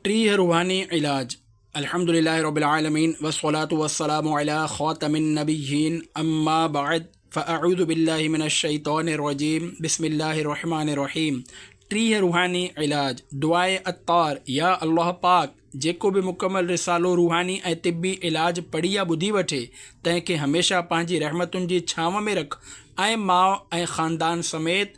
ٽيهه روحاني علاج، الحمد لله رب العالمين والصلاة والسلام علي خاتم النبيين اما بعد فاعوذ بالله من الشيطان الرجيم بسم الله الرحمن الرحيم ٽيهه روحاني علاج، دعائي عطار، يا الله پاڪ جيڪو به مڪمل رسالو روحاني ۽ طبي علاج پڙهي يا ٻڌي وٺي تنهن کي هميشه پنهنجي رحمتن جي ڇانو ۾ رک ۽ ماء ۽ خاندان سميت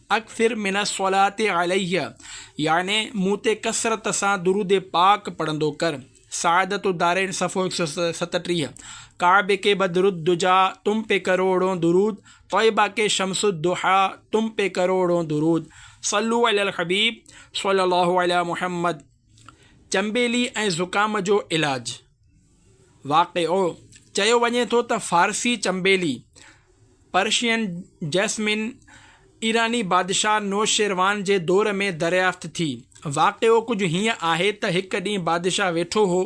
اڪثر من الصلاة عليّ، يعني مون تي ڪثرت سان درود پاڪ پڙهندو ڪر، سعادت الدارين صفحو هڪ سؤ ستٽيهه، ڪعبه کي بدر الدجيٰ تم پي ڪروڙون درود، طيبه کي شمس الضحيٰ تم پي ڪروڙون درود، صلو علی الحبيب صلّي الله عليٰ محمّد، چنبيلي ۽ زڪام جو علاج. واقعو، چيو وڃي ٿو ته فارسي چنبيلي، Persian Jasmine، ايراني بادشاهه نوشيروان جي دور ۾ دريافت ٿي. واقعو ڪجهه هيئن آهي ته هڪ ڏينهن بادشاهه ويٺو هو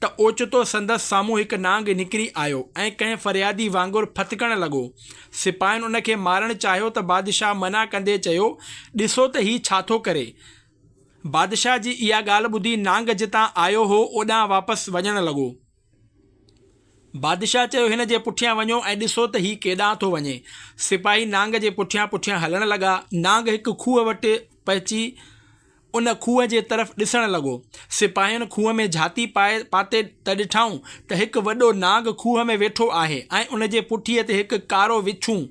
ته اوچتو سندس سامهون هڪ نانگ نڪري آيو ۽ ڪنهن فريادي وانگر ڦٿڪڻ لڳو. سپاهين ان کي مارڻ چاهيو ته بادشاهه منع ڪندي چيو، ڏسو ته هي ڇا ٿو ڪري؟ بادشاهه جي اها ڳالهه ٻڌي نانگ جتان آيو هو اوڏانهن واپس وڃڻ لڳو. بادشاهه چيو هن جي پٺيان وڃو ۽ ڏسو ته هي ڪيڏانهن ٿو وڃي. سپاهي نانگ جي پٺيان پٺيان هلڻ لڳا. نانگ هڪ کوهه وٽ پهچي ان کوهه جي طرف ڏسڻ لڳو. سپاهين کوهه ۾ جهاتي پائي پاتي ته ڏٺائون ته هڪ وڏو نانگ کوهه ۾ ويٺو آهي ۽ ان جي پٺيء تي هڪ ڪارو وڇون،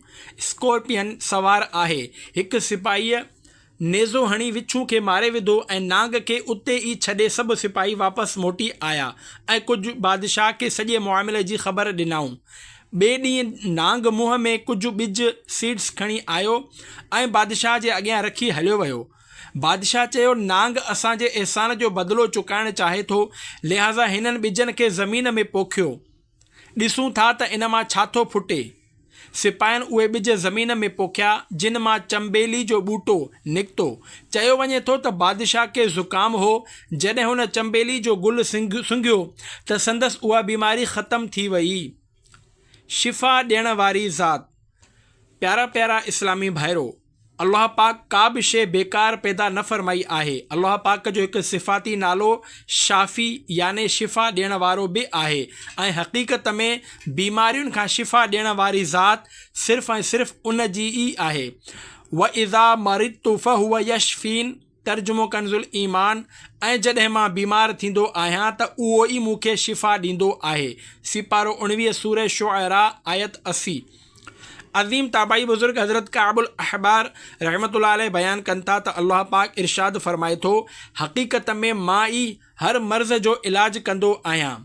Scorpion، سوار آهي. هڪ سپاهيء نيزو هڻي وڇون کي ماري وڌو ۽ نانگ کي اتي ئي ڇڏي سڀ سپاهي واپس موٽي آيا ۽ ڪجهه بادشاهه کي سڄي معاملي جي خبر ڏنائون. ٻئي ڏينهن نانگ منهن ۾ ڪجهه ٻج، Seeds، کڻي آيو ۽ بادشاهه جي اڳيان رکي هليو ويو. بادشاهه چيو، نانگ اسان جي احسان جو بدلو چڪائڻ چاهي ٿو، لهٰذا هنن ٻجن کي زمين ۾ پوکيو. ڏسون ٿا ته ان مان ڇا ٿو ڦٽي. سپاهين اهي ٻج زمين ۾ پوکيا، جن مان چنبيلي جو ٻوٽو نڪتو. چيو وڃي ٿو ته بادشاهه کي زڪام هو، جڏهن هن چنبيلي جو گل سنگهيو ته سندس اها بيماري ختم ٿي وئي. شفا ڏيڻ واري ذات. پيارا پيارا اسلامي ڀائرو! الله پاڪ ڪا به شيء بيڪار پيدا نه فرمائي آهي. الله پاڪ جو هڪ صفاتي نالو شافي يعني شفا ڏيڻ وارو به آهي ۽ حقيقت ۾ بيمارين کان شفا ڏيڻ واري ذات صرف ۽ صرف ان جي ئي آهي، واذا مرضت فهو يشفين. ترجمو ڪنزالایمان، ۽ جڏهن مان بيمار ٿيندو آهيان ته اهو ئي مون کي شفا ڏيندو آهي، سيپارو اڻويهه سوره شعراء آيت اسي. عظيم تابعي بزرگ حضرت ڪعب الاحبار رحمة الله عليه بيان ڪن ٿا ته الله پاڪ ارشاد فرمائي ٿو، حقيقت ۾ مان ئي هر مرض جو علاج ڪندو آهيان.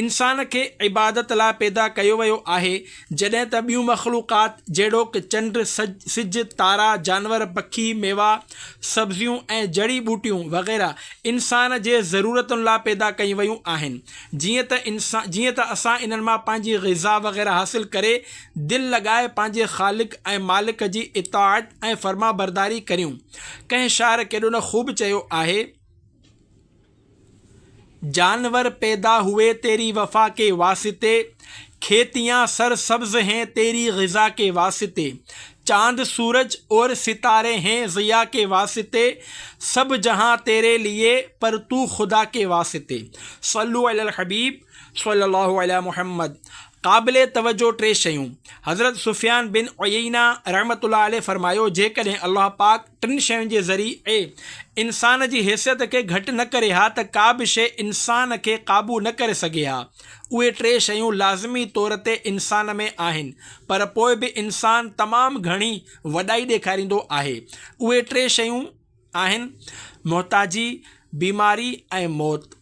انسان کي عبادت لاء پيدا ڪيو ويو آهي، جڏهن ته ٻيون مخلوقات جهڙوڪ چنڊ، سج، تارا، جانور، پکي، ميوا، سبزيون ۽ جڙي ٻوٽيون وغيره انسان جي ضرورتن لاء پيدا ڪيون ويون آهن. جيئن ته جيئن ته اسان انهن مان پنهنجي غذا وغيره حاصل ڪري دل لڳائي پنهنجي خالق ۽ مالڪ جي اطاعت ۽ فرمانبرداري ڪريون. ڪنهن شاعر ڪيڏو نه خوب چيو آهي. جانور پيدا هوئي تيري وفا ڪي واسطي کيتيان سر سبز هين تيري غذا ڪي واسطي چاند سورج اور ستاري هين ضيا ڪي واسطي سب جهان تيري ليي پر تو خدا ڪي واسطي صلو علي الحبيب صلي الله علي محمد قابل توجه ٽي شيون حضرت سفيان بن عيينه رحمة الله عليه فرمايو جيڪڏهن الله پاڪ ٽن شين جي ذريعي انسان جي حيثيت کي گهٽ نه ڪري ها ته ڪا به شيء انسان کي قابو نه ڪري سگهي ها. اهي ٽي شيون لازمي طور تي انسان ۾ آهن، پر پوء به انسان تمام گهڻي وڏائي ڏيکاريندو آهي. اهي ٽي شيون آهن، محتاجي، بيماري ۽ موت.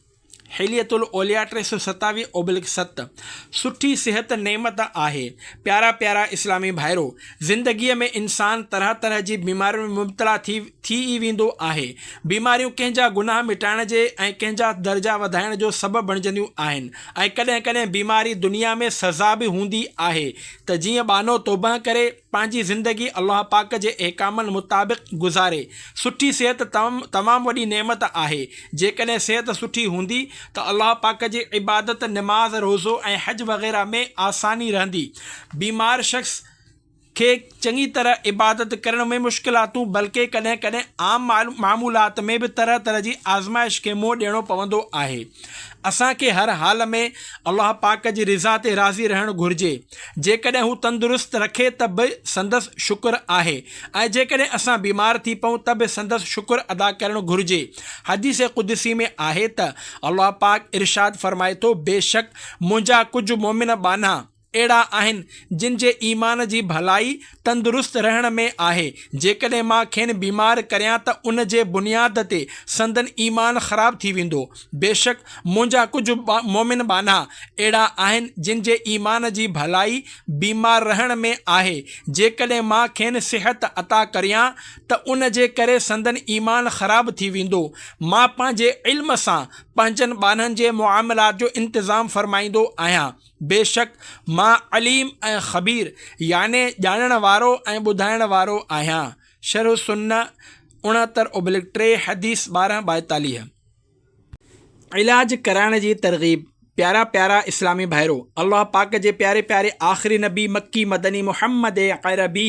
حلية الاولياء ٽي سؤ ستاويهه اوبلڪ ست سٺي صحت نعمت آهي پيارا پيارا اسلامي ڀائرو! زندگيء ۾ انسان طرح طرح جي بيمارين ۾ مبتلا ٿي ٿي ئي ويندو آهي. بيماريون ڪنهن جا گناهه مٽائڻ جي ۽ ڪنهن جا درجا وڌائڻ جو سبب بڻجنديون آهن ۽ ڪڏهن ڪڏهن بيماري دنيا ۾ سزا به هوندي آهي ته جيئن ٻانهو توبهه ڪري پنهنجي زندگي الله پاڪ جي احڪامن مطابق گذاري. سٺي صحت تمام وڏي نعمت آهي. جيڪڏهن صحت سٺي هوندي ته الله پاڪ جي عبادت، نماز، روزو ۽ حج وغيره ۾ آساني رهندي. بيمار شخص کي چڱي طرح عبادت ڪرڻ ۾ مشڪلاتون بلڪه ڪڏهن ڪڏهن عام معمولات ۾ به طرح طرح جي آزمائش کي منهن ڏيڻو پوندو آهي. اسان کي هر حال ۾ الله پاڪ جي رضا تي راضي رهڻ گهرجي. جيڪڏهن هو تندرست رکي ته به سندس شڪر آهي ۽ جيڪڏهن اسان بيمار ٿي پئون ته به سندس شڪر ادا ڪرڻ گهرجي. حديث قدسي ۾ آهي ته الله پاڪ ارشاد فرمائي ٿو، بيشڪ منهنجا ڪجهه مؤمن ٻانها اهڙا آهن جن جي ايمان جي ڀلائي، تندرست رهڻ ۾ آهي، جيڪڏهن مان کين بيمار ڪريان ته ان جي بنياد تي سندن ايمان خراب ٿي ويندو. بيشڪ منهنجا ڪجهه مؤمن ٻانها اهڙا آهن جن جي ايمان جي ڀلائي بيمار رهڻ ۾ آهي، جيڪڏهن مان کين صحت عطا ڪريان ته ان جي ڪري سندن ايمان خراب ٿي ويندو. مان پنهنجي علم سان پنهنجن ٻانهن جي معاملات جو انتظام فرمائيندو آهيان. بيشڪ مان عليم ۽ خبير يعني ڄاڻڻ وارو ۽ ٻڌائڻ وارو آهيان شرح السنه اڻهتر ابلڪ ٽي حديث ٻارهن ٻائيتاليهه. علاج ڪرائڻ جي ترغيب پيارا پيارا اسلامي ڀائرو! الله پاڪ جي پياري پياري آخري نبي مڪي مدني محمد عربي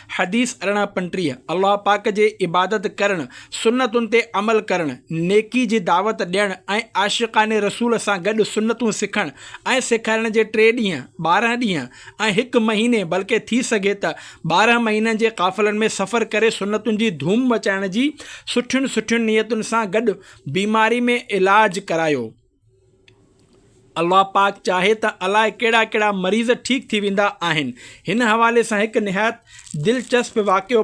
حديث ارڙهن پنٽيهه، الله پاڪ جي عبادت ڪرڻ، سنتن تي عمل ڪرڻ، نيڪي جي دعوت ڏيڻ ۽ عاشقان رسول سان گڏ سنتون سکڻ ۽ سيکارڻ جي ٽي ڏينهن، ٻارهن ڏينهن ۽ هڪ مهيني بلڪه ٿي سگهي ته ٻارهن مهينن جي قافلن ۾ سفر ڪري سنتن جي ڌوم مچائڻ جي سٺين سٺين نيتن سان گڏ بيماري ۾ علاج ڪرايو. الله پاڪ چاهي ته الائي ڪهڙا ڪهڙا مريض ٺيڪ ٿي ويندا آهن. هن حوالي سان هڪ نهايت دلچسپ واقعو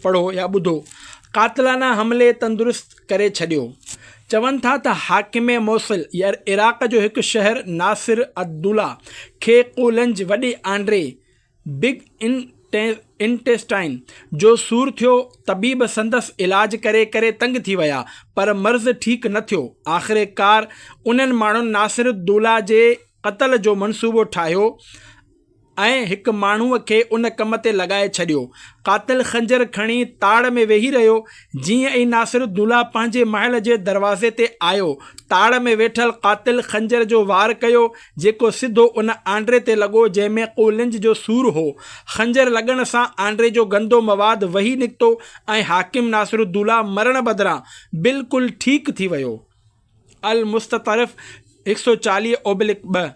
پڙهو يا ٻڌو. قاتلانه حملي تندرست ڪري ڇڏيو. چون ٿا ته حاڪم موصل يا عراق جو هڪ شهر ناصر الدوله کي قولنج وڏي آنڊري، بگ انٽيسٽائن، جو سور ٿيو، طبيب سندس علاج ڪري ڪري تنگ ٿي ويا، پر مرض ٺيڪ نه ٿيو، آخرڪار انهن ماڻهن ناصرالدوله جي قتل جو منصوبو ٺاهيو ۽ هڪ ماڻهوء کي ان ڪم تي لڳائي ڇڏيو، قاتل خنجر کڻي تاڙ ۾ ويهي رهيو، جيئن ئي ناصرالدوله پنهنجي محل جي دروازي تي آيو، تاڙ ۾ ويٺل قاتل خنجر جو وار ڪيو، جيڪو سڌو ان آنڊري تي لڳو جنهن ۾ قولنج جو سور هو. خنجر لڳڻ سان آنڊري جو گندو مواد وهي نڪتو ۽ حاڪم ناصرالدوله مرڻ بدران بلڪل ٺيڪ ٿي ويو. المستطرف هڪ سؤ چاليهه اوبلڪ ٻه،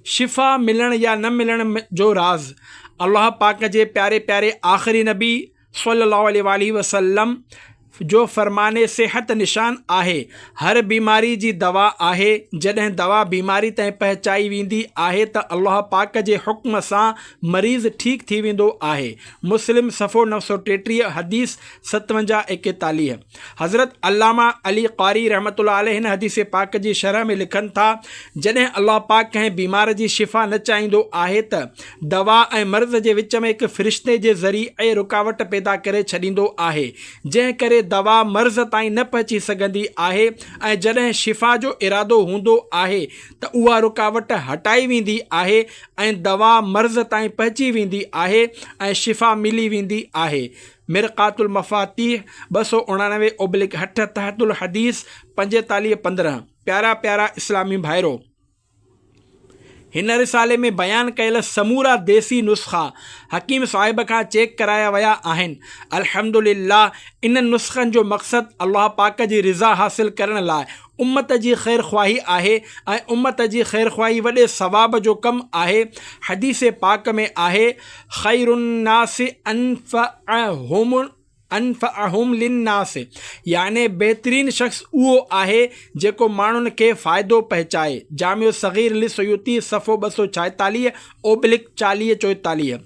شفا ملڻ يا نه ملڻ جو راز الله پاڪ جي پياري پياري آخري نبي، صلّي اللّٰه عليه واٰله وسلّم جو فرمان صحت نشان آهي، هر بيماري جي دوا آهي، جڏهن دوا بيماري تائين پهچائي ويندي آهي ته الله پاڪ جي حڪم سان مريض ٺيڪ ٿي ويندو آهي، مسلم صفحو نو سؤ ٽيٽيهه حديث ستونجاهه ايڪيتاليهه. حضرت علامه علي قاري رحمت الله عليه هن حديث پاڪ جي شرح ۾ لکن ٿا جڏهن الله پاڪ ڪنهن بيمار جي شفا نه چاهيندو آهي ته دوا ۽ مرض جي وچ ۾ هڪ فرشتي جي ذريعي رڪاوٽ پيدا ڪري ڇڏيندو آهي جنهن ڪري دوا مرض تائين نه پهچي سگهندي آهي ۽ جڏهن شفا جو ارادو هوندو آهي ته اها رڪاوٽ هٽائي ويندي آهي ۽ دوا مرض تائين پهچي ويندي آهي ۽ شفا ملي ويندي آهي مرقات المفاتيح، ٻه سؤ اڻاڻوي اوبلڪ هٺ، تحت الحديث، پنجيتاليهه پندرهن، پيارا پيارا اسلامي ڀائرو! هن رسالي ۾ بيان ڪيل سمورا ديسي نسخا حڪيم صاحب کان چيڪ ڪرايا ويا آهن. الحمدلله انهن نسخن جو مقصد الله پاڪ جي رضا حاصل ڪرڻ لاء امت جي خيرخواهي آهي ۽ امت جي خيرخواهي وڏي ثواب جو ڪم آهي حديث پاڪ ۾ آهي خير الناس انفعهم انفعهم للناس يعني بهترين شخص اهو آهي جيڪو ماڻهن کي فائدو پهچائي جامع صغير للسيوطي صفحو ٻه سؤ ڇائيتاليهه اوبلڪ چاليهه چوئيتاليهه،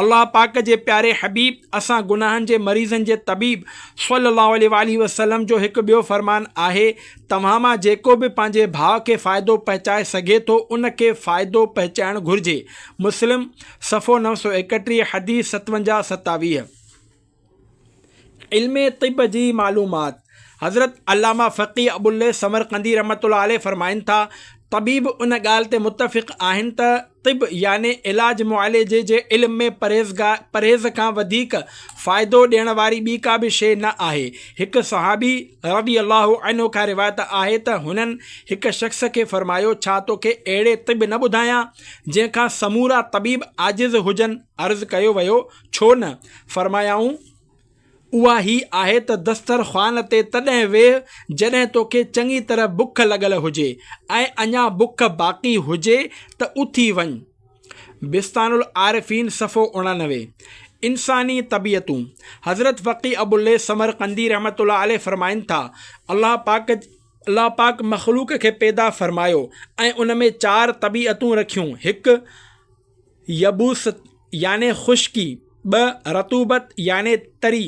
الله پاڪ جي پياري حبيب، اسان گناهن جي مريضن جي طبيب، صلّي الله عليه واٰله وسلّم جو هڪ ٻيو فرمان آهي، توهان مان جيڪو به پنهنجي ڀاء کي فائدو پهچائي سگهي ٿو، ان کي فائدو پهچائڻ گهرجي. مسلم، صفحو نو سؤ ايڪٽيهه، حديث ستونجاهه ستاويهه. علم طب جي معلومات، حضرت علامه فقيه ابوالليث سمرقندي رحمة الله عليه فرمائن ٿا، طبيب ان ڳالهه تي متفق آهن ته طب يعني علاج معالجي جي علم ۾ پرهيز کان وڌيڪ فائدو ڏيڻ واري ٻي ڪا به شيء نه آهي. هڪ صحابي رضي الله عنه کان روايت آهي ته هنن هڪ شخص کي فرمايو، ڇا توکي اهڙي طب نه ٻڌايان، جنهن کان سمورا طبيب عاجز هجن؟ عرض ڪيو ويو، ڇو نه؟ فرمايائون، اها هي آهي ته دستر خوان تي تڏهن ويهه جڏهن توکي چڱي طرح بک لڳل هجي ۽ اڃا بک باقي هجي ته اٿي وڃ. بستان العارفين صفحو اڻانوي. انساني طبيعتون، حضرت فقيه ابوالليث سمرقندي رحمة الله عليه فرمائن ٿا، الله پاڪ الله پاڪ مخلوق کي پيدا فرمايو ۽ ان ۾ چار طبيعتون رکيون، هڪ، يبوست يعني خشڪي، ٻه رطوبت يعني تري،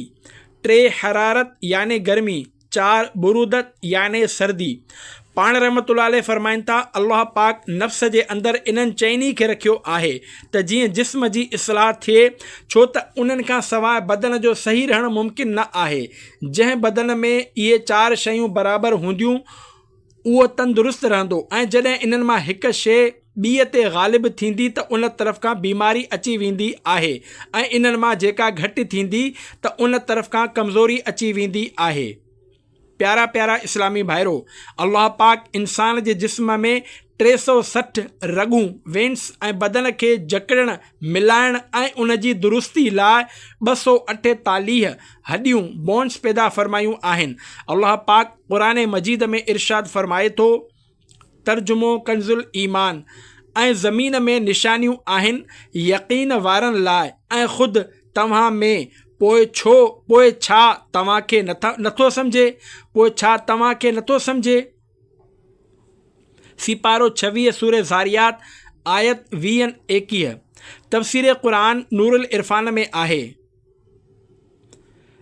ٽي حرارت يعني گرمي، چار برودت يعني سردي. پاڻ رحمة الله عليه فرمائن ٿا، الله پاڪ نفس جي اندر انهن چئن ئي کي رکيو آهي ته جيئن جسم جي اصلاح ٿئي، ڇو ته انهن کان سواء بدن جو صحيح رهڻ ممڪن نه آهي، جنهن بدن ۾ اهي چار شيون برابر هونديون، اهو تندرست رهندو ۽ جڏهن انهن مان هڪ شيء ٻيء تي غالب ٿيندي ته ان طرف کان بيماري اچي ويندي آهي ۽ انهن مان جيڪا گهٽ ٿيندي ته ان طرف کان ڪمزوري اچي ويندي آهي. پيارا پيارا اسلامي ڀائرو! الله پاڪ انسان جي جسم ۾ ٽي سؤ سٺ رڳون، Veins، ۽ بدن کي جڪڙڻ، ملائڻ ۽ ان جي درستي لاء ٻه سؤ اٺيتاليهه هڏيون، Bones، پيدا فرمايون آهن. الله پاڪ قرآن مجيد ۾ ارشاد فرمائي ٿو، ترجمو ڪنز الايمان، ۽ زمين ۾ نشانيون آهن يقين وارن لاء ۽ خود توهان ۾ پوء ڇو پوء ڇا توهان کي نٿو سمجهي پوء ڇا توهان کي نٿو سمجهي؟ سيپارو ڇويهه سورة ذاريات آيت ويهه ايڪيهه تفسير قرآن نورالعرفان ۾ آهي،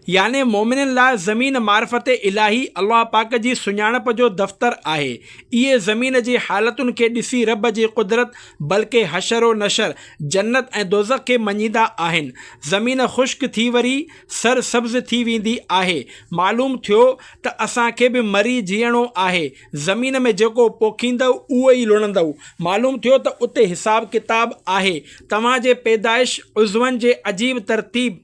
يعني مؤمنن لاء زمين معرفت الاهي الله پاڪ جي سڃاڻپ جو دفتر آهي، اهي زمين جي حالتن کي ڏسي رب جي قدرت بلڪه حشر و نشر، جنت ۽ دوزخ کي مڃيندا آهن، زمين خشڪ ٿي وري سر سبز ٿي ويندي آهي. معلوم ٿيو ته اسان کي به مري جيئڻو آهي. زمين ۾ جيڪو پوکيندؤ اهو ئي لڻندؤ. معلوم ٿيو ته اتي حساب ڪتاب آهي. توهان جي پيدائش، عضون جي عجيب ترتيب،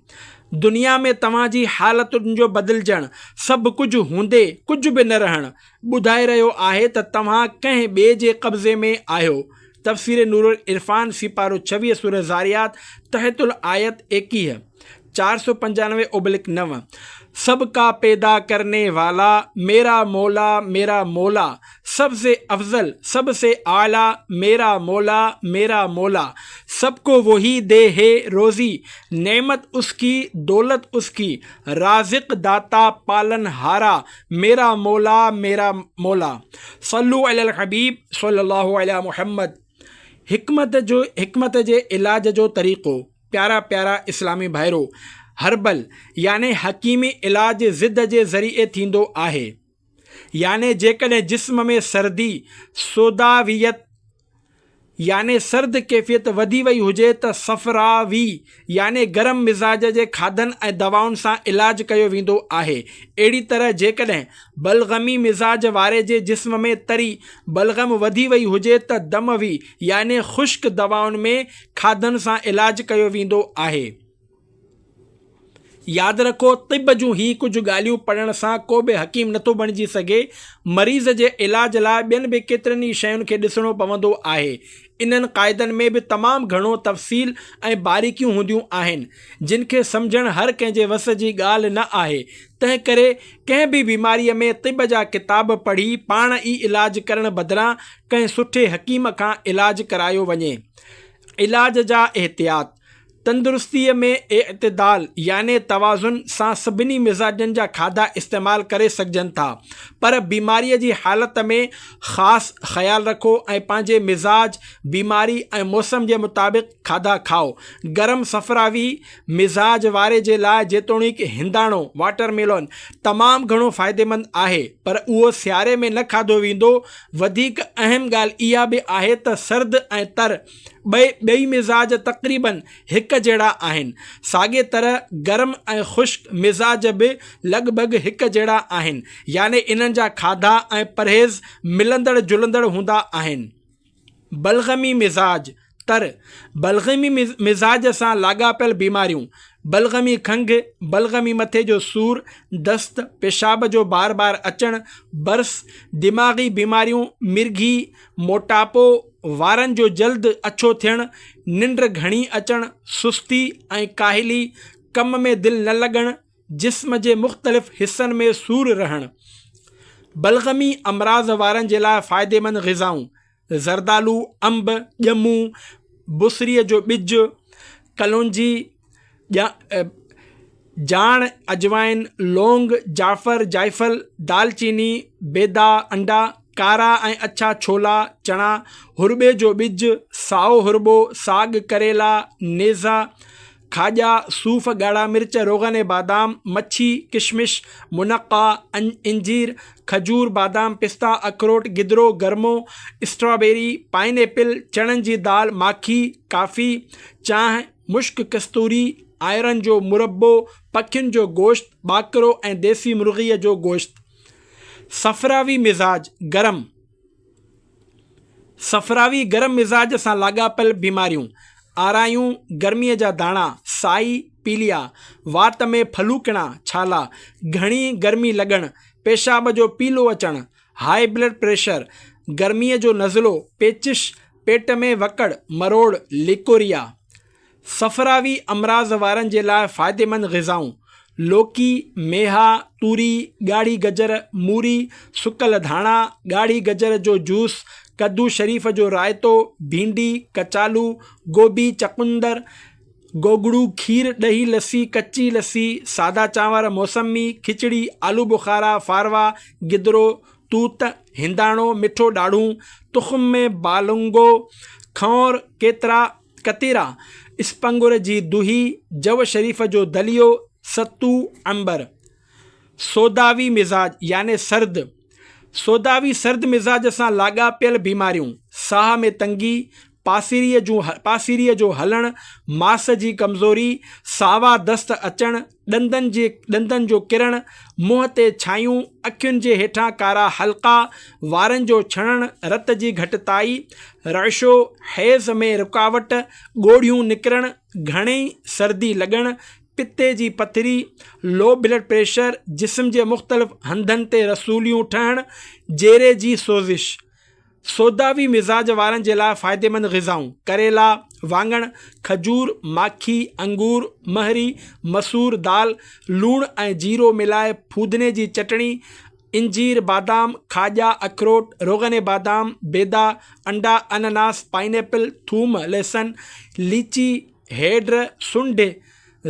دنيا ۾ توهان جي حالتن جو بدلجڻ، سڀ ڪجهه هوندي ڪجهه به نه رهڻ، ٻڌائي رهيو آهي ته توهان ڪنهن ٻئي جي قبضي ۾ آهيو. تفسير نورالعرفان سيپارو ڇويهه سوره ذاريات تحت الآيت ايڪيهه، چار سؤ پنجانوي اوبلڪ نو، سب ڪا پيدا ڪرني والا، ميرا مولا ميرا مولا، سب سي افضل سب سي اعليٰ، ميرا مولا ميرا مولا، سب ڪو وهي دي هي روزي، نعمت اس ڪي دولت اس ڪي، رازق داتا پالن هارا، ميرا مولا ميرا مولا. صلو علي الحبيب صلي الله علي محمد حڪمت جو حڪمت جي علاج جو طريقو. پيارا پيارا اسلامي ڀائرو! هربل يعني حڪيمي علاج ضد جي ذريعي ٿيندو آهي. يعني جيڪڏهن جسم ۾ سردي، سوداويت، يعني سرد ڪيفيت وڌي وئي هجي ته صفراوي يعني گرم مزاج جي کاڌن ۽ دوائن سان علاج ڪيو ويندو آهي. اهڙي طرح جيڪڏهن بلغمي مزاج واري جي جسم ۾ تري، بلغم، وڌي وئي هجي ته دموي يعني خشڪ دوائن ۾ کاڌن سان علاج ڪيو ويندو آهي. ياد رکو طب جون هي ڪجهه ڳالهيون پڙهڻ سان ڪو به حڪيم نٿو بڻجي سگهي، مريض جي علاج لاء ٻين به ڪيترن ئي شين کي ڏسڻو پوندو آهي. انهن قاعدن ۾ به تمام گهڻو تفصيل ۽ باريڪيون هونديون آهن، جن کي سمجهڻ هر ڪنهن جي وس جي ڳالهه نه آهي، تنهن ڪري ڪنهن به بيماريء ۾ طب جا ڪتاب پڙهي پاڻ ئي علاج ڪرڻ بدران ڪنهن سٺي حڪيم کان علاج ڪرايو وڃي. علاج جا احتياط، تندرستي ۾ اعتدال يعني توازن سان سڀني مزاجن جا کاڌا استعمال ڪري سگهجن ٿا پر بيماري جي حالت ۾ خاص خيال رکو ۽ پنهنجي مزاج، بيماري ۽ موسم جي مطابق کاڌا کائو. گرم صفراوي مزاج واري جي لاء جيتوڻيڪ هنداڻو، Watermelon، تمام گهڻو فائديمند آهي پر اهو سياري ۾ نه کاڌو ويندو وڌيڪ اهم ڳالهه اها به آهي ته سرد ۽ تر ٻئي ٻئي مزاج تقريباً هڪ جهڙا آهن. ساڳي طرح گرم ۽ خشڪ مزاج به لڳ ڀڳ هڪ جهڙا آهن يعني انهن جا کاڌا ۽ پرهيز ملندڙ جلندڙ هوندا آهن. بلغمي مزاج، تر، بلغمي مزاج سان لاڳاپيل بيماريون، بلغمي کنگهه، بلغمي مٿي جو سور، دست، پيشاب جو بار بار اچڻ، برس، دماغي بيماريون، مرگهي، موٽاپو، وارن جو جلد اڇو ٿيڻ، ننڊ گهڻي اچڻ، سستي ۽ ڪاهلي، ڪم ۾ دل نه لڳڻ، جسم جي مختلف حصن ۾ سور رهڻ. بلغمي امراض وارن جي لاء فائديمند غذائون. زردالو، انب، ڄمون، بصري جو ٻج، ڪلونجي، جاڻ، اجوائن، لونگ، جعفر، جائفل، دال چيني، بيضا، انڊا، ڪارا ۽ اڇا ڇولا، چڻا، هرٻي جو ٻج، سائو هرٻو، ساڳ، ڪريلا، نيزا، کاڄا، صوف، ڳاڙها مرچ، روغن بادام، مڇي، ڪشمش، منقه، انجير، کجور، بادام، پستا، اکروٽ، گدرو، گرمو، اسٽرابيري، پائن ايپل، چڻن جي دال، ماکي، ڪافي، چانهه، مشڪ ڪستوري، آئرن جو مربو، پکين جو گوشت، ٻاڪرو ۽ ديسي مرغيء جو گوشت. صفراوي مزاج، گرم. صفراوي، گرم مزاج سان لاڳاپيل بيماريون، آرايون، گرميء جا داڻا، سائي، پيليا، وات ۾ ڦلوڪڻا، ڇالا، گهڻي گرمي لڳڻ، پيشاب جو پيلو اچڻ، هاء بلڊ پريشر، گرميء جو نزلو، پيچش، پيٽ ۾ وڪڙ، مروڙ، ليڪوريا. صفراوي امراض وارن جي لاء فائديمند غذائون، لوڪي، ميها، توري، ڳاڙهي گجر، موري، سڪل ڌاڻا، ڳاڙهي گجر جو جوس، ڪدو شريف جو رائتو، ڀينڊي، ڪچالو، گوبي، چقندر، گوگڙو، کير، ڏهي، لسي، ڪچي لسي، سادا چانور، موسمي، کچڙي، آلو بخارا، ڦاروا، گدرو، توت، هنداڻو، مٺو ڏاڙهون، تخم ۾ بالنگو، کنئور، ڪيترا، ڪتيرا، اسپنگر جي دهي، جوء شريف جو دليو، ستو، عنبر. سوداوي مزاج يعني سرد، سوداوي سرد مزاج سان لاڳاپيل بيماريون، ساهه ۾ تنگي، پاسيريء جون پاسيريء جو هلڻ، ماس جي ڪمزوري، ساوا دست اچڻ، ڏندن جي ڏندن جو ڪرڻ، منهن تي ڇايون، اکين جي هيٺان ڪارا حلقا، وارن جو ڇڻڻ، رت جي گهٽتائي، رعشو، حيض ۾ رڪاوٽ، ڳوڙهيون نڪرڻ، گهڻي سردي لڳڻ، پتي جي پٿري، Low Blood Pressure، جسم جي مختلف هنڌن تي رسوليون ٺهڻ، جيري جي سوزش. سوداوي مزاج وارن جي لاء فائديمند غذائون، ڪريلا، واڱڻ، کجور، ماکي، انگور، مهري، مسور دال، لوڻ ۽ جيرو ملائي ڦودني جي چٽڻي، انجير، بادام، کاڄا، اکروٽ، روغن بادام، بيضا، انڊا، انناس، پائنيپل، ٿوم، لهسن، ليچي، هيڊ، سنڍ،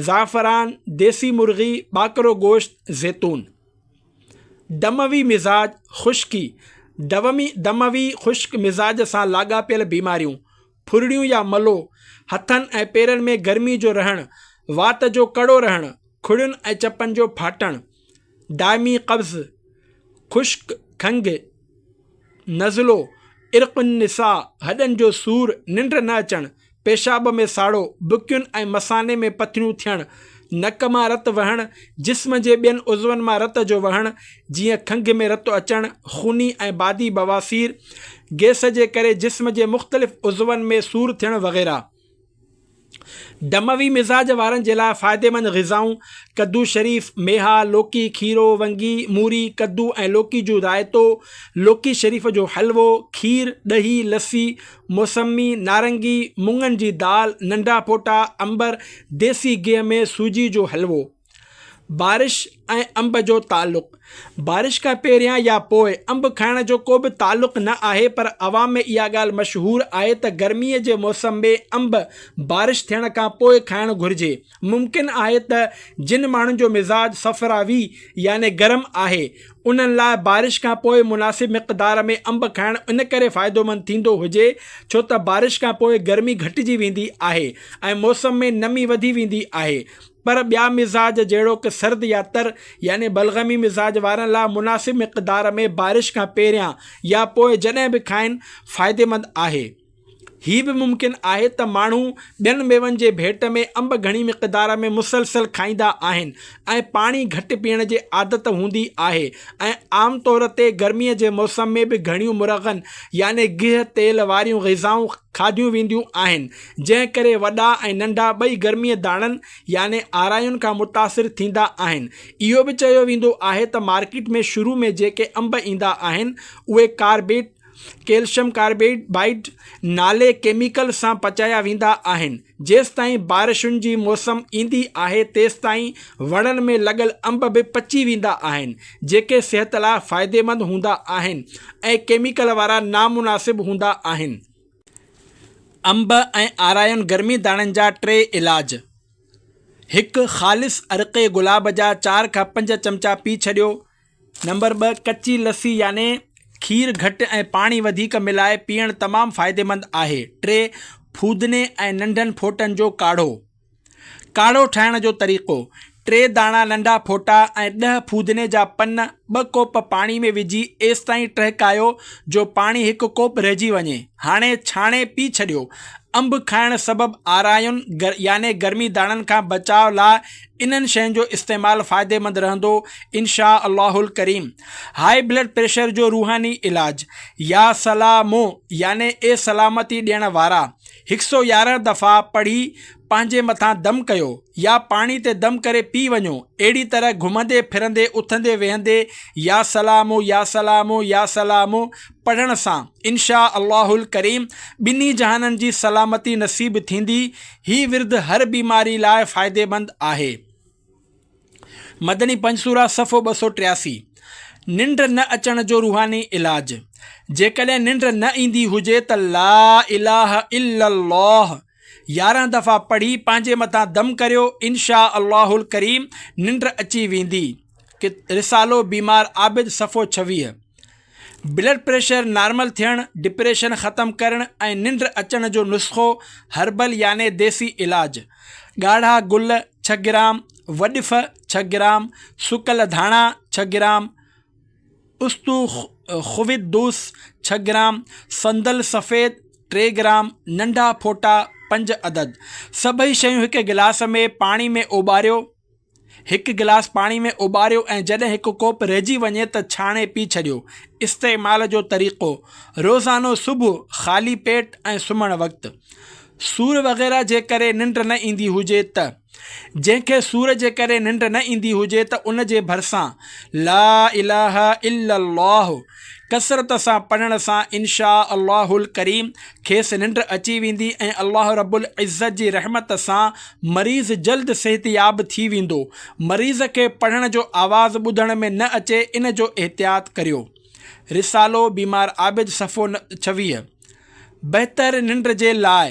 زعفران، ديسي مرغي، ٻاڪرو گوشت، زيتون. دموي مزاج خشڪي، دومي، دموي خشڪ مزاج سان لاڳاپيل بيماريون، ڦرڙيون يا ملو، هٿن ۽ پيرن ۾ گرمي جو رهڻ، وات جو ڪڙو رهڻ، کڙين ۽ چپن جو ڦاٽڻ، دائمي قبض، خشڪ کنگهه، نزلو، عرق النساء، هڏن جو سور، ننڊ نه اچڻ، پيشاب ۾ ساڙو، بڪين ۽ مثاني ۾ پٿريون ٿيڻ، نڪ مان رت وهڻ، جسم جي ٻين عضون مان رت جو وهڻ، جيئن کنگهه ۾ رت اچڻ، خوني ۽ بادي بواسير، گئس جي ڪري جسم جي مختلف عضون ۾ سور ٿيڻ وغيره. دموي مزاج وارن جي لاء فائديمند غذائون، ڪدو شريف، ميها، لوڪي، کيرو، ونگي، موري، ڪدو ۽ لوڪي جو رائتو، لوڪي شريف جو حلوو، کير، ڏهي، لسي، موسمي، نارنگي، مڱن جي دال، ننڍا ڦوٽا، عنبر، ديسي گيهه ۾ سوجي جو حلوو. بارش ۽ انب جو تعلق، بارش کان پهريان يا پوء انب کائڻ جو ڪو به تعلق نه آهي پر عوام ۾ اها ڳالهه مشهور آهي ته گرمي جي موسم ۾ انب بارش ٿيڻ کان پوء کائڻ گهرجي. ممڪن آهي ته جن ماڻهن جو مزاج صفراوي يعني گرم آهي انهن لاء بارش کان پوء مناسب مقدار ۾ انب کائڻ ان ڪري فائدومند ٿيندو هجي ڇو ته بارش کان پوء گرمي گهٽجي ويندي آهي ۽ موسم ۾ نمي وڌي ويندي آهي پر ٻيا مزاج جهڙوڪ سرد يا تر يعني بلغمي مزاج وارن لاء مناسب مقدار ۾ بارش کان پهريان يا پوء جڏهن به کائن فائديمند آهي. هي به ممڪن آهي ته ماڻهو ٻين ميون جي ڀيٽ ۾ انب گهڻي مقدار ۾ مسلسل کائيندا آهن ۽ پاڻي گهٽ پيئڻ جي عادت هوندي آهي ۽ عام طور تي گرمي جي موسم ۾ به گهڻيون مرغن يعني گيهه تيل واريون غذائون کاڌيون وينديون آهن جنهن ڪري وڏا ۽ ننڍا ٻئي گرمي داڻن يعني آراين کان متاثر ٿيندا آهن اهو به چيو ويندو آهي ته مارڪيٽ ۾ شروع ۾ جيڪي انب ايندا آهن اهي ڪاربيٽ ڪيلشم ڪاربيڊ بائيڊ نالي ڪيميڪل سان پچايا ويندا آهن جيستائين بارشن جي موسم ايندي آهي تيستائين وڻن ۾ لڳل انب به پچي ويندا آهن جيڪي صحت لاء فائديمند هوندا آهن ۽ ڪيميڪل وارا نامناسب هوندا آهن انب ۽ آرائين گرمي داڻن جا ٽي علاج هڪ خالص عرقي گلاب جا چار کان پنج چمچا پي ڇڏيو نمبر ٻه، ڪچي لسي يعني کير گهٽ ۽ پاڻي وڌيڪ ملائي پيئڻ تمام فائديمند آهي. ٽي، ڦودني ۽ ننڍن ڦوٽن جو ڪاڙهو. ڪاڙهو ٺاهڻ جو طريقو، ٽي داڻا ننڍا ڦوٽا ۽ ڏهه ڦودني جا پن ٻه ڪوپ پاڻي ۾ وجهي ايستائين ٽهڪايو جو پاڻي هڪ ڪوپ رهجي وڃي. هاڻي ڇاڻي پي ڇڏيو. انب کائڻ سبب آرائن يعني گرمي داڻن کان بچاء لاء انهن شين جو استعمال فائديمند رهندو انشاء الله الڪريم. هاء بلڊ پريشر جو روحاني علاج، يا سلام يعني اي سلامتي ڏيڻ وارا، هڪ سؤ يارهن دفعا پڙهي پنهنجي مٿان دم ڪيو يا پاڻي تي دم ڪري پي وڃو اهڙي طرح گهمندي ڦرندي اٿندي ويهندي يا سلام يا سلام يا سلام پڙهڻ سان انشاء الله الڪريم ٻنهي جهانن جي سلامتي نصيب ٿيندي هي ورد هر بيماري لاء فائديمند آهي مدني پنج سوره صفحو ٻه سؤ ٽياسي ننڊ نه اچڻ جو روحاني علاج جيڪڏهن ننڊ نه ايندي هجي ته لا اله الا الله يارهن دفعا پڙهي پنهنجي مٿان دم ڪريو انشاء الله الڪريم ننڊ اچي ويندي رسالو بيمار عابد صفحو ڇويهه بلڊ پريشر نارمل ٿيڻ ڊپريشن ختم ڪرڻ ۽ ننڊ اچڻ جو نسخو هربل يعني ديسي علاج ڳاڙها گل ڇهه گرام وڏڦ ڇهه گرام سڪل ڌاڻا ڇهه گرام استو خويت دوس ڇهه گرام، صندل سفيد ٽي گرام، ننڍا ڦوٽا پنج عدد، سڀئي شيون هڪ گلاس ۾ پاڻي ۾ اوٻاريو، هڪ گلاس پاڻي ۾ اوٻاريو ۽ جڏهن هڪ ڪوپ رهجي وڃي ته ڇاڻي پي ڇڏيو. استعمال جو طريقو، روزانو صبح خالي پيٽ ۽ سمهڻ وقت. سور وغيره جي ڪري ننڊ نه ايندي هجي ته. جنهن کي سور جي ڪري ننڊ نه ايندي هجي ته ان جي ڀرسان لا اله الا الله ڪثرت سان پڙهڻ سان انشاء الله الڪريم کيس ننڊ اچي ويندي ۽ الله رب العزت جي رحمت سان مريض جلد صحتياب ٿي ويندو مريض کي پڙهڻ جو آواز ٻڌڻ ۾ نه اچي ان جو احتياط ڪريو رسالو بيمار عابد صفحو ن ڇويهه بهتر ننڊ جي لاء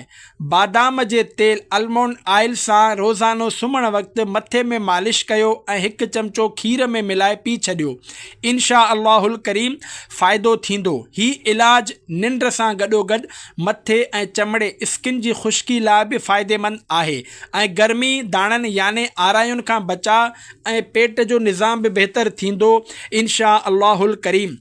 بادام جي تيل Almond Oil سان روزانو سمهڻ وقت مٿي ۾ مالش ڪيو ۽ هڪ چمچو کير ۾ ملائي پي ڇڏيو انشاء الله الڪريم فائدو ٿيندو هي علاج ننڊ سان گڏوگڏ مٿي ۽ چمڙي Skin جي خشڪي لاء به فائديمند آهي ۽ گرمي داڻن يعني آراين کان بچاء ۽ پيٽ جو نظام به بهتر ٿيندو انشاء الله الڪريم.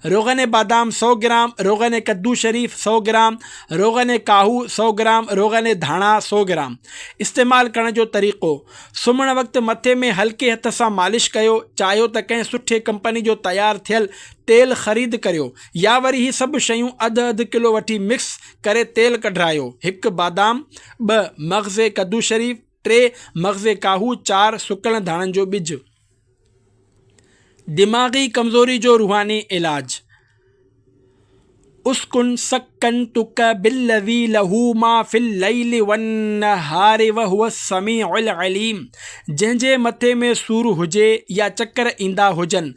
روغن بادام سؤ گرام، روغن ڪدو شريف سؤ گرام، روغن ڪاهو سؤ گرام، روغن ڌاڻا سؤ گرام. استعمال ڪرڻ جو طريقو، سمهڻ وقت مٿي ۾ هلڪي هٿ سان مالش ڪيو، چاهيو ته ڪنهن سٺي ڪمپني جو تيار ٿيل تيل خريد ڪريو يا وري هي سڀ شيون اڌ اڌ ڪلو وٺي مڪس ڪري تيل ڪڍرايو، هڪ بادام، ٻه مغز ڪدو شريف، ٽي مغز ڪاهو، چار سڪل ڌاڻن جو ٻج. دماغي ڪمزوري جو روحاني علاج، اسڪن سڪنتک بالذي له ما في الليل والنهار وهو السميع العليم جنهن جي مٿي ۾ سور هجي يا چڪر ايندا هجن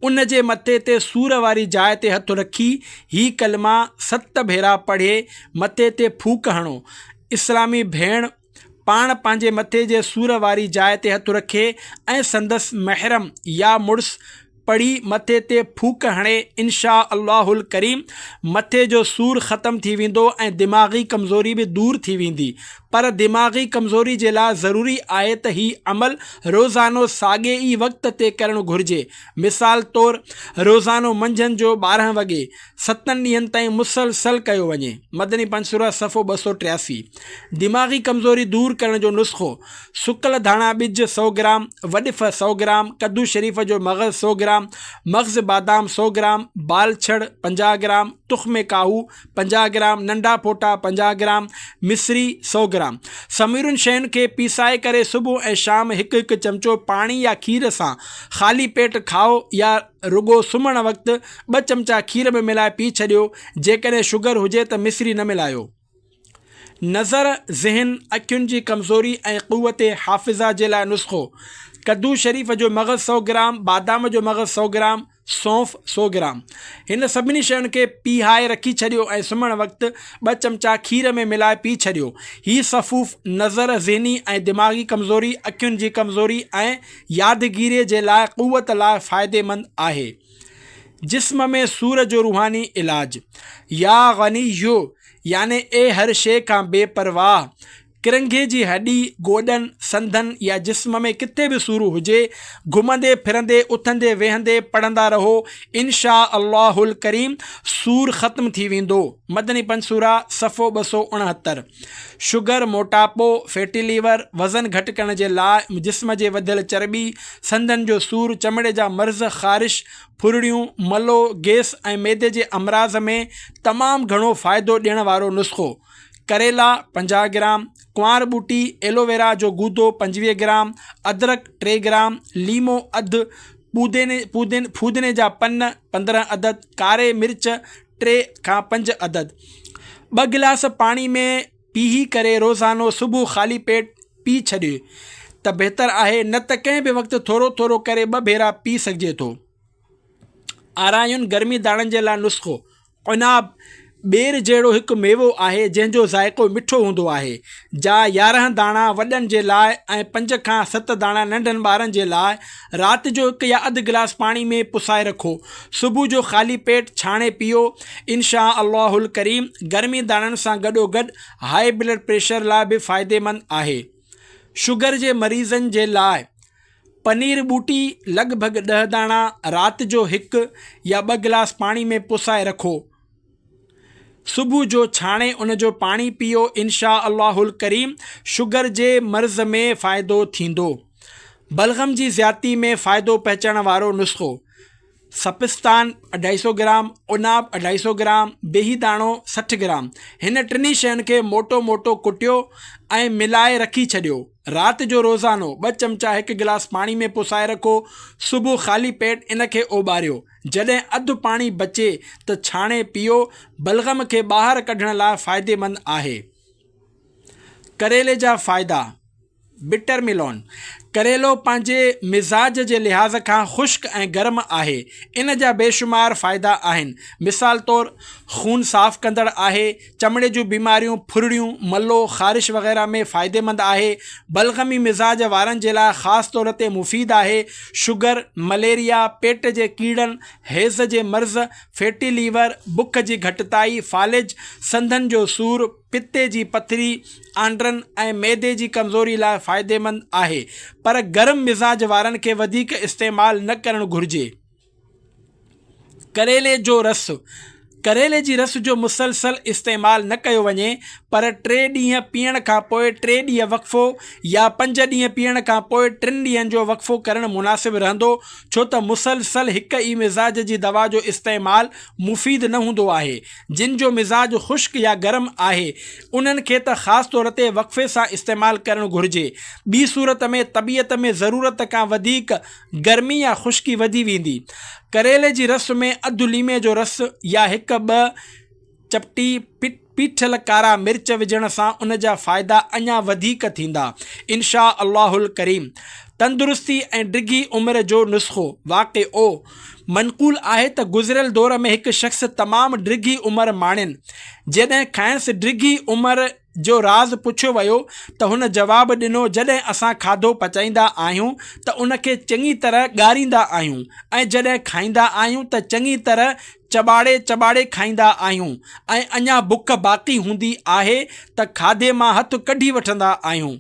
ان جي مٿي تي سور واري جاء تي هٿ رکي هي ڪلما ست ڀيرا پڙهي مٿي تي ڦوڪ هڻو اسلامي ڀيڻ پاڻ پنهنجي مٿي جي سور واري جاء تي هٿ رکي ۽ سندس محرم يا مڙس پڙهي مٿي تي ڦوڪ هڻي انشاء الله الڪريم مٿي جو سور ختم ٿي ويندو ۽ دماغي ڪمزوري به دور ٿي ويندي پر دماغي ڪمزوري جي لاء ضروري آهي ته هي عمل روزانو ساڳي ئي وقت تي ڪرڻ گهرجي مثال طور روزانو منجهند جو ٻارهن وڳي ستن ڏينهن تائين مسلسل ڪيو وڃي مدني پنج سوره صفحو ٻه سؤ ٽياسي دماغي ڪمزوري دور ڪرڻ جو نسخو، سڪل ڌاڻا ٻج سؤ گرام، وڏڦ سؤ گرام، ڪدو شريف جو مغز سؤ گرام، مغز بادام سؤ گرام، بال ڇڙ پنجاهه گرام، تخم ڪاهو پنجاهه گرام، ننڍا ڦوٽا پنجاهه گرام، مصري سؤ گرام. سمورين شين کي پيسائي ڪري صبح ۽ شام هڪ هڪ چمچو پاڻي يا کير سان خالي پيٽ کاء يا رڳو سمهڻ وقت ٻه چمچا کير ۾ ملائي پي ڇڏيو جيڪڏهن شگر هجي ته مصري نه ملايو. نظر، ذهن، اکين جي ڪمزوري ۽ قوت حافظه جي لاء نسخو، ڪدو شريف جو مغز سؤ گرام، بادام جو مغز سؤ گرام، سونف سؤ گرام. هن سڀني شين کي پيهائي رکي ڇڏيو ۽ سمهڻ وقت ٻه چمچا کير ۾ ملائي پي ڇڏيو. هي سفوف نظر، ذهني ۽ دماغي ڪمزوري، اکين جي ڪمزوري ۽ يادگيري جي لاء قوت لاء فائديمند آهي. جسم ۾ سور جو روحاني علاج. يا غني يعني اي هر شيء کان بي پرواهه، ڪرنگهي جي هڏي، گوڏن، سنڌن يا جسم ۾ ڪٿي به سور هجي، گهمندي ڦرندي، اٿندي ويهندي پڙهندا رهو، انشاء الله الڪريم سور ختم ٿي ويندو. مدني پنسوره، صفحو ٻه سؤ اڻهتر. شگر، موٽاپو، فيٽي ليور، وزن گهٽ ڪرڻ جي لاء، جسم جي وڌيل چرٻي، سنڌن جو سور، چمڙي جا مرض، خارش، ڦرڙيون، ملو، گيس ۽ معدي جي امراض ۾ تمام گهڻو فائدو ڏيڻ وارو نسخو. ڪريلا، پنجاهه گرام، ڪنوار ٻوٽي، ايلوويرا، جو گودو، پنجويهه گرام، ادرڪ، ٽي گرام، ليمو، اڌ، پوديني، پوديني، ڦودني جا پن، پندرهن عدد، ڪاري مرچ، ٽي کان پنج عدد ٻه گلاس پاڻي ۾ پيهي ڪري روزانو صبح خالي پيٽ پي ڇڏي ته بهتر آهي نه ته ڪنهن به وقت ٿورو ٿورو ڪري ٻه ڀيرا پي سگهجي ٿو. آرايون گرمي داڻن جي لاء نسخو، عناب، ٻير جهڙو هڪ ميوو آهي جنهن جو ذائقو مٺو هوندو آهي، جا يارهن داڻا وڏن جي لاء ۽ پنج کان ست داڻا ننڍن ٻارن جي لاء، رات جو هڪ يا اڌ گلاس پاڻي ۾ پسائي رکو. صبح جو خالي پيٽ ڇاڻي پيئو. انشاء الله الڪريم گرمي داڻن سان گڏوگڏ هاء بلڊ پريشر لاء به فائديمند آهي. شگر جي مريضن جي لاء پنير ٻوٽي لڳ ڀڳ ڏهه داڻا رات جو هڪ يا ٻه گلاس پاڻي ۾ پسائي رکو. صبح جو ڇاڻي ان جو پاڻي پيئو انشاء الله الڪريم شگر جي مرض ۾ فائدو ٿيندو. بلغم جي زيادتي ۾ فائدو پهچڻ وارو نسخو، سپستان اڍائي سئو گرام، عناب اڍائي سئو گرام، بيهي داڻو سٺ گرام هن ٽنهي شين کي موٽو موٽو ڪٽيو ۽ ملائي رکي ڇڏيو. رات جو روزانو ٻه چمچا هڪ گلاس پاڻي ۾ پسائي رکو صبح خالي پيٽ ان کي اوٻاريو. جڏهن اڌ پاڻي بچي ته ڇاڻي پيئو، بلغم کي ٻاهر ڪڍڻ لاء فائديمند آهي. ڪريلي جا فائدا، Bitter Melon، ڪريلو پنهنجي مزاج جي لحاظ کان خشڪ ۽ گرم آهي، ان جا بيشمار فائدا آهن، مثال طور خون صاف ڪندڙ آهي، چمڙي جون بيماريون، ڦرڙيون، ملو، خارش وغيره ۾ فائديمند آهي. بلغمي مزاج وارن جي لاء خاص طور تي مفيد آهي. شگر، مليريا، پيٽ جي ڪيڙن، حيض جي مرض، فيٽي ليور، بک جي گهٽتائي، فالج، سنڌن جو سور، پتي جي پٿري، آنڊرن ۽ معدي جي ڪمزوري لاء فائديمند آهي. پر گرم مزاج وارن کي وڌيڪ استعمال نه ڪرڻ گهرجي. ڪريلي جو رس، ڪريلي جي رس جو مسلسل استعمال نه ڪيو وڃي پر ٽي ڏينهن پيئڻ کانپوء ٽي ڏينهن وقفو يا پنج ڏينهن پيئڻ کانپوء ٽن ڏينهن جو وقفو ڪرڻ مناسب رهندو ڇو ته مسلسل هڪ ئي مزاج جي دوا جو استعمال مفيد نه هوندو آهي جن جو مزاج خشڪ يا گرم آهي انهن کي ته خاص طور تي وقفي سان استعمال ڪرڻ گهرجي ٻي صورت ۾ طبيعت ۾ ضرورت کان وڌيڪ گرمي يا خشڪي وڌي ويندي. ڪريلي جي رس ۾ اڌ ليمي جو رس يا هڪ ٻه چپٽي پيٺيل ڪارا مرچ وجهڻ سان ان جا فائدا اڃا وڌيڪ ٿيندا انشاء الله الڪريم. تندرستي ۽ ڊگهي عمر جو نسخو، واقعو، منقول آهي ته گذريل دور ۾ هڪ شخص تمام ڊگهي عمر ماڻين جڏهن کانئس ڊگهي عمر، جو راز پڇيو ويو ته هن جواب ڏنو جڏهن اسان کاڌو پچائيندا آهيون ته ان کي چڱي طرح ڳاريندا آهيون ۽ جڏهن کائيندا آهيون ته چڱي طرح چٻاڙي چٻاڙي کائيندا آهيون ۽ اڃا بک باقي هوندي آهي ته کاڌي مان هٿ ڪڍي وٺندا آهيون.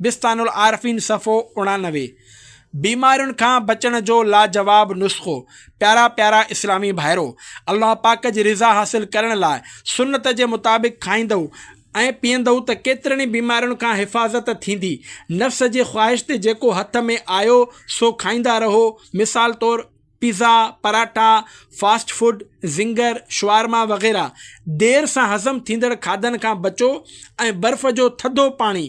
بستان العارفين صفحو اڻانوي بيمارين کان بچڻ جو لاجواب نسخو پيارا پيارا اسلامي ڀائرو! الله پاڪ جي رضا حاصل ڪرڻ لاء سنت جي مطابق کائيندؤ ۽ پيئندؤ ته ڪيترين ئي بيمارين کان حفاظت ٿيندي. نفس جي خواهش تي جيڪو هٿ ۾ آيو سو کائيندا رهو مثال طور، pizza, paratha, fast food, zinger, شوارما وغيره دير سان هضم ٿيندڙ کاڌن کان بچو ۽ برف جو ٿڌو پاڻي،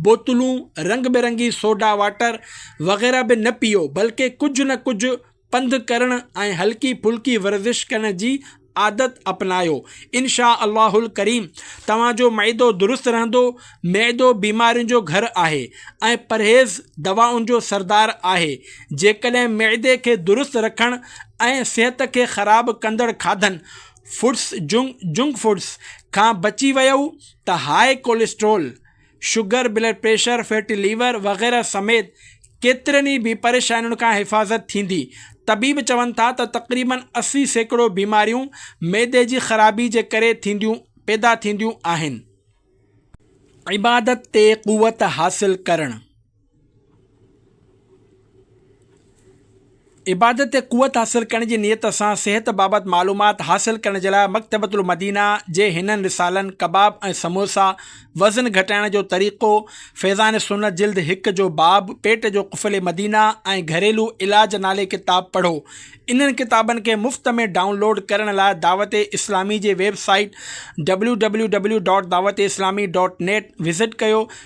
بوتلون، رنگ برنگي سوڊا واٽر وغيره به نه پيئو بلڪه ڪجهه نه ڪجهه پنڌ ڪرڻ ۽ هلڪي ڦلڪي ورزش ڪرڻ جي عادت اپنايو انشاء الله الڪريم توهان جو معدو درست رهندو معدو بيمارين جو گهر آهي ۽ پرهيز دوائن جو سردار آهي جيڪڏهن معدي کي درست رکڻ ۽ صحت کي خراب ڪندڙ کاڌن Foods جنڪ Foods کان بچي ويئو ته high cholesterol sugar, blood pressure, fatty liver وغيره سميت ڪيترين ئي بي پريشانين کان حفاظت ٿيندي. طبيب چون ٿا ته تقريبن اسي سيڪڙو بيماريون معدي جي خرابي جي ڪري ٿينديون پيدا ٿينديون آهن. عبادت تي قوت حاصل ڪرڻ. عبادت تي قوت حاصل ڪرڻ جي نيت سان صحت بابت معلومات حاصل ڪرڻ جي لاء مڪتبة المدينه جي هنن رسالن ڪباب ۽ سموسا، وزن گهٽائڻ جو طريقو، فيضان سنت جلد هڪ جو باب، پيٽ جو قفل مدينه ۽ گهريلو علاج نالي ڪتاب پڙهو. انهن ڪتابن کي مفت ۾ ڊائون لوڊ ڪرڻ لاء دعوت اسلامي جي ويب سائيٽ www.dawateslamee.net وزٽ ڪيو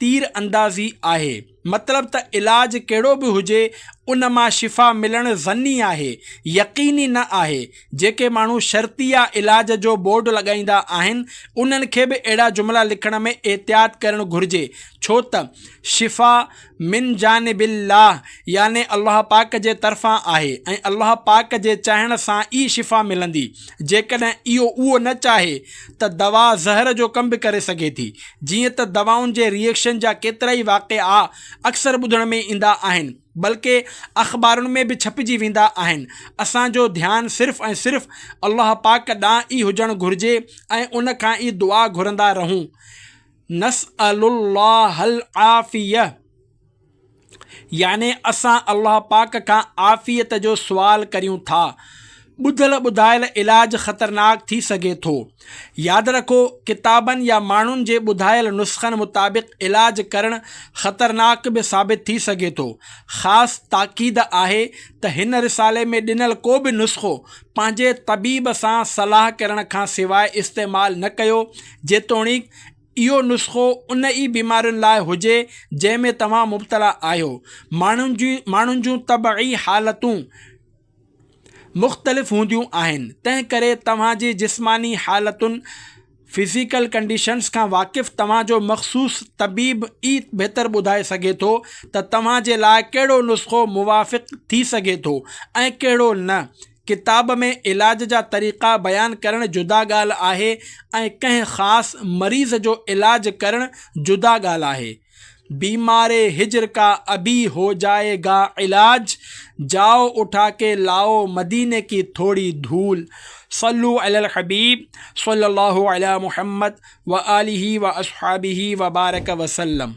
تير اندازي آهي. مطلب ته علاج ڪهڙو به هجي ان مان شفا ملڻ ظني آهي، يقيني نه آهي. جيڪي ماڻهو شرطيه علاج جو بورڊ لڳائيندا آهن انهن کي به اهڙا جملا لکڻ ۾ احتياط ڪرڻ گهرجي ڇو ته شفا من جانب الله يعني الله پاڪ جي طرفان آهي ۽ الله پاڪ جي چاهڻ سان ئي شفا ملندي جيڪڏهن اهو نه چاهي ته دوا زهر جو ڪم به ڪري سگهي ٿي جيئن ته دوائن جي ري ايڪشن جا ڪيترائي واقعا اڪثر ٻڌڻ ۾ ايندا آهن بلڪه اخبارن ۾ به ڇپجي ويندا آهن اسان جو ڌيان صرف ۽ صرف الله پاڪ ڏانهن ئي هجڻ گهرجي ۽ ان کان ئي دعا گهرندا رهون نسئل الله العافيه. يعني اسان الله پاڪ کان عافيت جو سوال ڪريون ٿا. ٻڌل ٻڌايل علاج خطرناڪ ٿي سگهي ٿو. ياد رکو ڪتابن يا ماڻهن جي ٻڌايل نسخن مطابق علاج ڪرڻ خطرناڪ به ثابت ٿي سگهي ٿو. خاص تاڪيد آهي ته هن رسالي ۾ ڏنل ڪو به نسخو پنهنجي طبيب سان صلاح ڪرڻ کان سواء استعمال نه ڪيو جيتوڻيڪ اهو نسخو ان ئي بيمارين لاء هجي جنهن ۾ توهان مبتلا آهيو. ماڻهن جي ماڻهن جون طبعي حالتون مختلف هونديون آهن تنهن ڪري توهان جي جسماني حالتن، Physical Conditions، کان واقف توهان جو مخصوص طبيب ئي بهتر ٻڌائي سگهي ٿو ته توهان جي لاء ڪهڙو نسخو موافق ٿي سگهي ٿو ۽ ڪهڙو نه. ڪتاب ۾ علاج جا طريقا بيان ڪرڻ جدا ڳالهه آهي ۽ ڪنهن خاص مريض جو علاج ڪرڻ جدا ڳالهه آهي. بيماري هجر ڪا ابي هو جائي گا علاج، جائو اٺا ڪي لاؤ مديني ڪي ٿوڙي ڌول. صلو علی الحبيب صلّي الله علی محمّد وآله وأصحابه وبارک وسلّم.